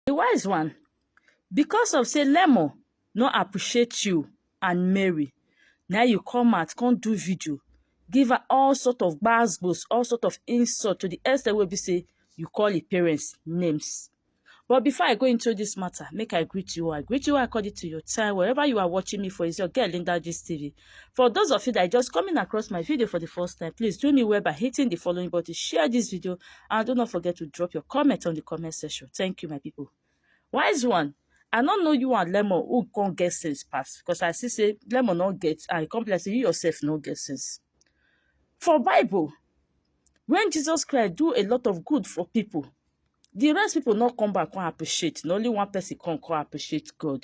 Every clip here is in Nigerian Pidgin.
The wise one, because of say Lemo no appreciate you and Mary, now you come out, come do video, give her all sort of gbasgbos, all sort of insult to the extent where we say you call your parents names. But before I go into this matter, make I greet you. I greet you according to your time. Wherever you are watching me for, is your girl Linda Gist TV. For those of you that are just coming across my video for the first time, please do me well by hitting the following button, share this video, and do not forget to drop your comment on the comment section. Thank you, my people. Wise one, I don't know you and Lemon who can't get sense pass because I see say Lemon not get and complex you yourself not get sense. For Bible, when Jesus Christ do a lot of good for people, the rest people not come back and appreciate. Not only one person can come appreciate God.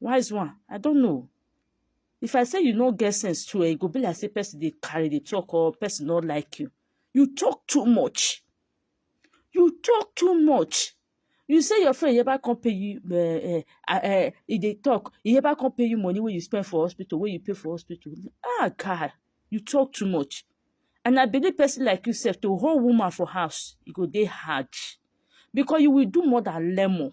Wise one, I don't know. If I say you no get sense too, it eh, go be like say person they carry the talk or person not like you. You talk too much. You talk too much. You say your friend ever come pay you, uh, uh, uh, if they talk, he ever come pay you money when you spend for hospital, when you pay for hospital. Ah, God, you talk too much. And I believe person like yourself, to hold woman for house, you go they hard. Because you will do more than lemon.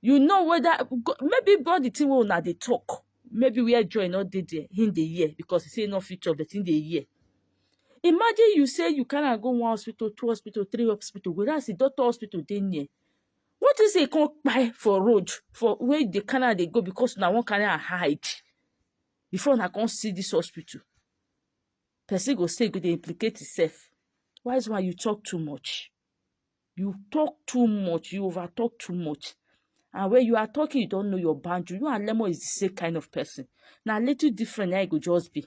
you know whether maybe God the thing wey una dey talk maybe where joy no dey there him dey hear because he say he no fit chop but him dey hear imagine you say you carry am go one hospital two hospital three hospital whereas the doctor hospital dey near what if say e come kpai for road for where you dey carry am dey go because una wan carry am hide before una come see this hospital person go say e go dey implicate himself why is why you talk too much You talk too much. You over talk too much. And when you are talking, you don't know your boundary. You and Lemo is the same kind of person. Now, little different, now it go just be.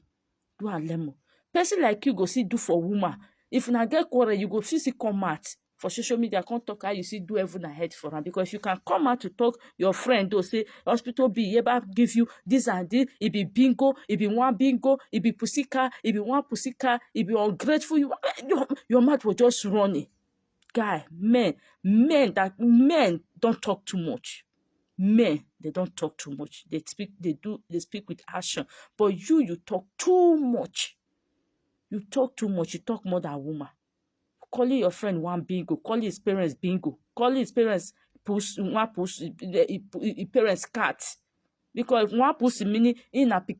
You and Lemo. Person like you go see do for woman. If you not get quarrel, you go see see come out for social media come talk how you see do everything ahead for am because you can come out to talk your friend though say hospital be yeba give you this and this e be bingo e be one bingo e be pussycat e be one pussycat e be ungrateful you your, your mouth was just running guy men men that men don talk too much men they don talk too much they speak they do they speak with action but you you talk too much you talk too much you talk more than woman calling your friend one bingo calling his parents bingo calling his parents pussy one pussy his parents cat because one pussy meaning in a pikin